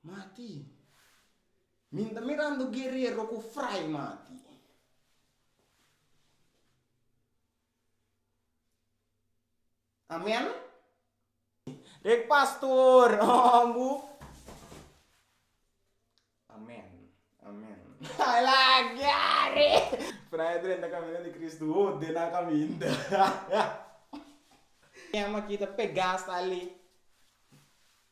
Mati, Mi ta mirando guerero ku fray, mati. Amen? Rek pastor, Amen bu. Amen, amen. Ai lagiari! Fray a drenta kaminda di Kristu, ho den nan a kaminda. Kema ki ta pegá sta li?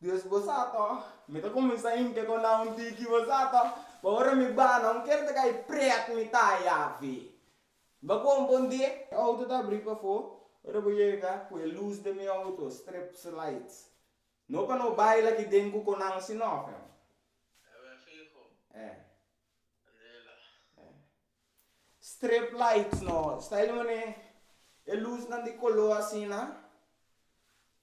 Dios, bo sa tòg? Mi ta kuminsá hinka ku nan un tiki, bo sa tòg? Pa ora mi bai, nan ker ta kai prèt mi ta Yahve. Bo kon bon di e? Mi outo ta abrí pafó. Ora bo yega ku e lus den mi outo, strips lights. No pa no baila aki den ku konan si nòf, eh. Eh. Strip lights no style di mane e lusnan di color asina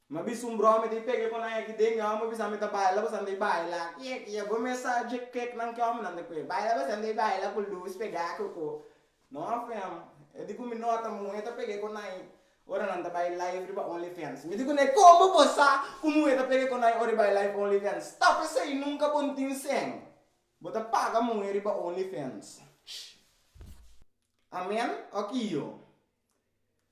mi a bisa un brome ta pega con nan aki den mi amo bisa ami ta baila boso anto baila kiek kiek bo me sa dje kiek nan ki hombrenan ta cu baila boso anto baila cu luz pega koko no afem e di cu mi nota muhe ta pega con nan ora nan ta bai live riba only fans mi di cu nan como bo sa cu muhe ta pega con nan ora e bai live only fans stop esey nunca bo tin seng Bo ta paga muhe riba OnlyFans? Amen ok iyo.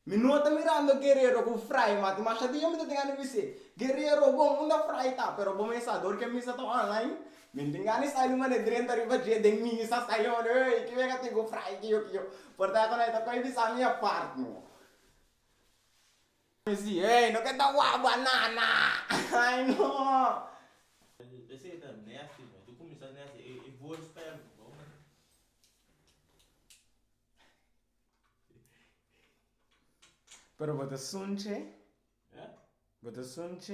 Mi no ta mirando Guerrero ku frai mati masha dia mi ta tin gana di bis'é, Guerrero bon unda frai ta pero bo mes sa dor ke mi sa ta online? Mi tin gana di sai di manera drenta riba dje den mi sa sai di manera ey ke biaha tin ku frai ke yo ke yo. Por ta ku na e ta koe bisa mi apart no. Mi si, Hey, no ke ta wak banana! Ay no! Pero bo ta sunchi? Bo ta sunchi?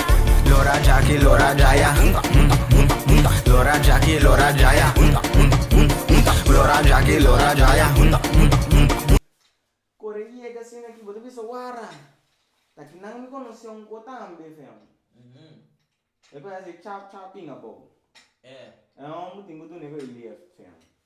Lora Jaki lora jaya unta unta unta unta Lora Jaki lora jaya unta unta unta unta Lora Jaki lora jaya unta unta unta unta. Kore ki yega asina aki bo ta bisa wara ta ki nan mi konosé un ko tambe feon e ku hasi chap chap pinga bow e un bo tin ku dune ku e lief feon.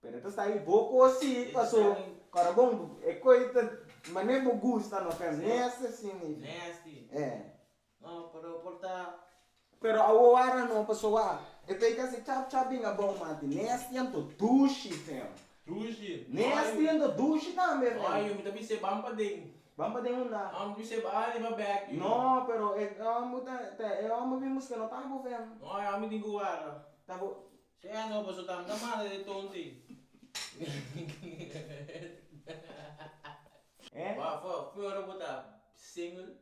Pero e ta sta ahi bo koos si paso kora bon e koi ta mane bo gusta no ken mester si ni fi eh. No pero por ta. Pero awoara no paso wa e ta ika si chap chap bin abou mati nes tiento dushi fem. Dushi nes tiento dushi tambe fem. Oy yo mi ta bise ban pa den. Ban pa den unda. No mi bise ba riba bek yo. No pero e homber ta e homber bin buske no ta bo fem. No e homber tin ku wara. Ta bo. Sey a no paso tanta mare de tonti. Wafa fue ora bo ta single.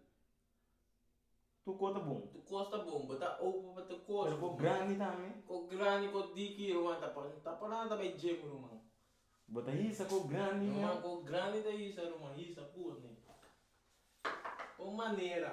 Tu kos ta bon. Tu kos ta bon, bo ta open pa tur kos. Pero kos grandi tambe. Kos grandi kos diki ruman ta pa ta pará ta bai gym ruman. Bo ta hisa kos grandi mia. Ruman kos grandi ta hisa ruman hisa put ni. Kon manera.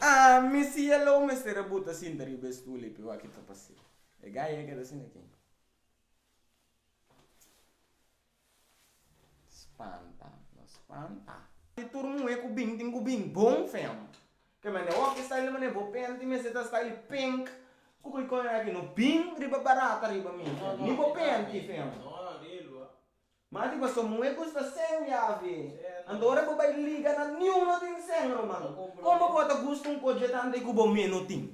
Haa mi cielo mester a buta cinta riba e stoel ei pe wak kit a pasa e gaya ei keda asina kin. Spanta, no spanta. Di tur muhe ku bin tin ku bin bon fem. Ke mane wak e style mane bo penti mester ta style pink ku bo kore aki no bin riba barata riba mi fem ni bo penti fem. Ma di paso muhe ku sta sen yavi anto ora bo bai liga nan niun no tin sen ruman. Kon bo por ta gusta un koje tante ku bo mi no tin.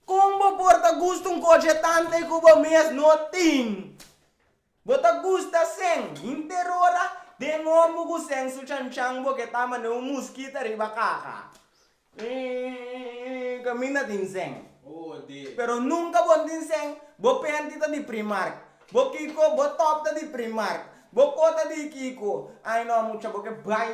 Kon bo por ta gusta un koche tante ku bo mes no tin? Bo ta gusta sèn hinterora den ombo ku sèn su chanchan bo ke ta manera un muskita riba kaha. Ii, kaminda tin sèn. Pero nunka bo no tin sèn, bo penti ta di Primark, bo kiko, bo top ta di Primark, bo kota di kiko. Ai no mucha, bo ke bai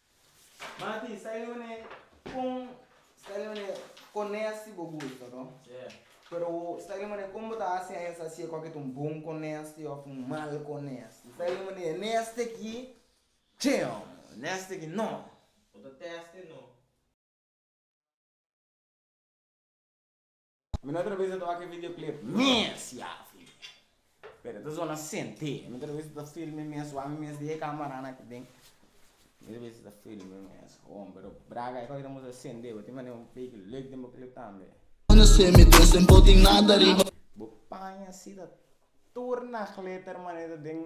Mati, sta e manera con, sta e manera con nes si bo gusta, no? Yeah. Pero sta e manera con bo ta haci aña sa si e cos aki ta un bon con nes ti of un mal con nes ti. Sta e manera nes ti aki che hombre, nes ti aki no. Bo ta testa e no. Mi no a trabe sa toka e videoclip mes ya fin, pero ta zona sente, mi no trabe sa ta feel mi mes wak mi mes di e camarana aki den, mi no trabe sa ta feel mi mes, bon pero braga e cosa moest a sende bo tin manera un beetje leuk den bo clip tambe. Bo paña si ta tur na glitter manera den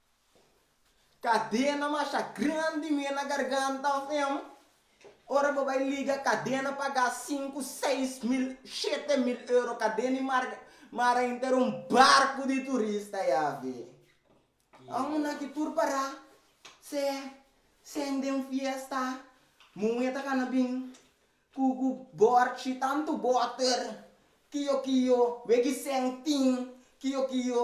Kadena masha grandi mi e na garganta of em ora bo bai liga kadena paga sinku seis mil shete mil euro kadena i mar mara inter un barku di turista ya fi amo na ki tur para se seng den fiesta muhe ta kana bin ku ku borchi tantu boter kiyo kiyo weki seng tin kiyo kiyo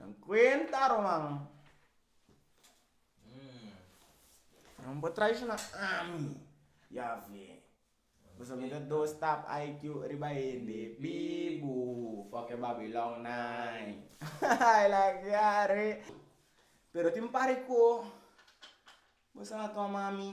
Nan kuenta, ruman. Nan por traishona ami, Yawe. Pasobra mi ta dos tap IQ riba hende bibu. Fòk e Babilònnai. Ai laga are. Pero tin un par di ku boso a toma mi.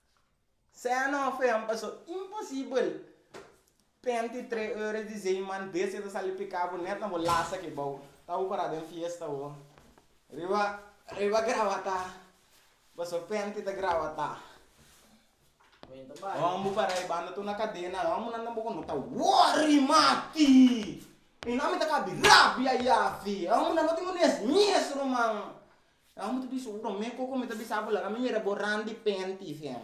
Sea no fean paso imposibel penti tre ores di zeiman bestia ta sali pika bo net na bo lasa ki bou ta bo para den fiesta o riba riba grawata paso penti ta grawata hom bo para e banda tur na kadena hom bo nan tampoco no ta worry mati mi nan mi ta kabi rabia yafi hom bo nan no tin un esmies ruman Nan bo ta bisa, Ura, me koko mi ta bisa bo laga mi mira bo randi penti, Siem.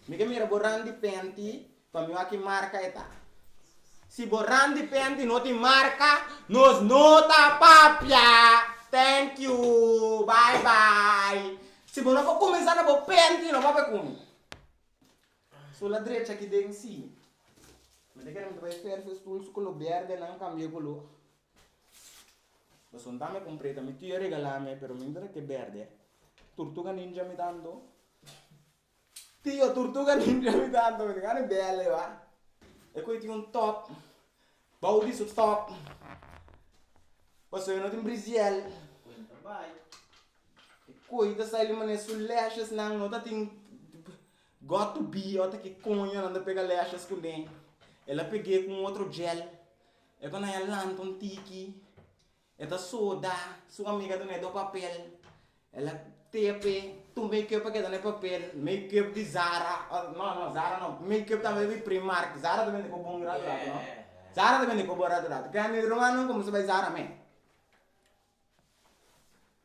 Mi ke mira bo randi penti, pa mi wak i marka e ta. Si bo randi penti no tin marka, nos no ta papia! Thank you! Bye bye! Si bo no por kuminsá na bo penti, no papia ku mi. Sula drecha aki den, sí. Mi ta kere mi ta bai fersa e stulsu ku lo berde nan kambia ku lo. Pasobra dame compreta mi tia regalame pero mi no ta ke berde tortuga ninja mi tanto tio tortuga ninja mi tanto mi ta gana di bele ba e cu tin un top bou di su top pasobra e no tin briziel e coe ta sali manera su lashes nan no ta tin god to be ota ki coño nan ta pega lashes cune e la pege con otro gel E konai a lanta un tiki, e ta soda su amiga duna e do papel, el a tepe tur makeup a keda na e papel, makeup di zara, or no no zara no, makeup tambe di primark, zara ta bende ku bon rato rato no, zara ta bende ku bon rato rato, ke a mi rumannan komo su bai zara me.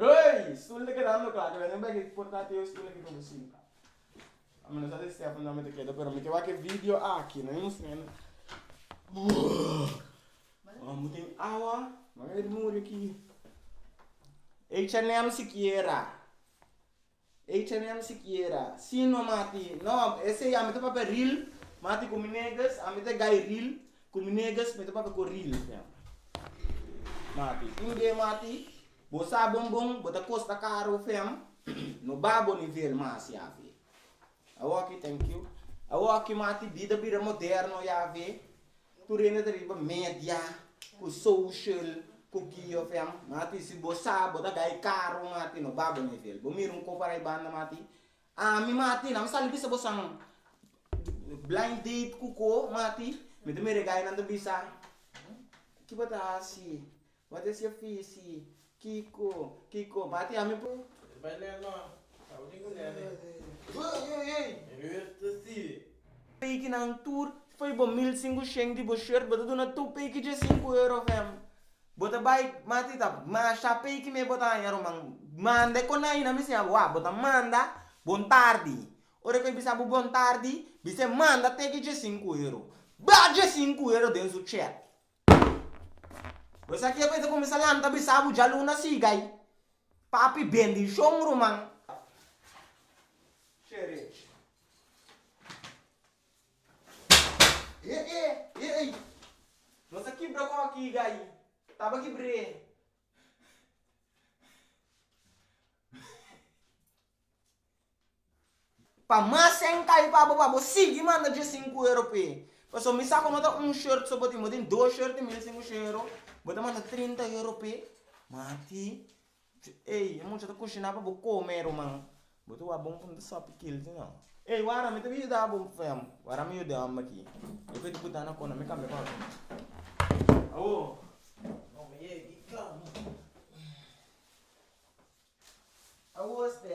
Hey! Stul ta keda loka, keda nen bay por ta te stul aki pa bo sinta. Ami no sa si Stefan tambe ta keda pero mi ke wak e video aki no mi mustra nan Mamá bo tin awa? Mami a muri aki. Ey Chanel sikiera. Ey chami ami sikiera si no mati no esey ami ta papia ril mati ku mi negas ami ta gai ril ku mi negas mi ta papia ku ril mati tin be mati bo sa bon bon bo ta kosta karu fem no ba bo nivel mas ya fe. Awor aki, thank you. Awor aki mati bida bira moderno ya fe, tur hende ta riba media, ku social, ku ki of em. Mati si bo sa bo ta gai karu mati no ba bo nivel. Bo mira un kof arai banda mati, ami mati nan sali bisa bo san blind date ku ko mati mi ta mira e gainan ta bisa kiba ta hasi Wata e sia fisi, Kiko, Kiko, bati ami po. E bai lei no, tabo tin ku nene. Hey, hey, hey! E rüer ta sibi. Pekinan tur, fei bo mil sinku shen di bo short, bo ta duna tur peki dje sinku euro fem. Bo ta bai mati ta masha peki me bo ta haña ruman. Manda e konai na mi siña bo, wak, bo ta manda bon tardi. Ora ku e bisa bo bon tardi, bisa e manda teki dje sinku euro. Ba dje sinku euro den su chet. Bo sa kico e ta cuminsa lanta bisa bo djaluna siga ayi. Papi bendicion ruman. No sa kibra cu a kiga ayi. Taba kibre. Pa mas enkai pa bo pa bo sigui manda dje sinku euro p'e. Pasobra mi sa ku no ta un short so bo tin, bo tin dos short di mil sinku shon euro, bo ta manda trinta euro p'e, mati ey e mucha ta kushiná pa bo kome e ruman. Bo ta wak bo bo no ta sòpi kil si no. Ey wara mi ta bin yuda bo feho, wara mi yuda bo aki. Efecto ku ta na kona mi kambia pa otro. Awo awo este.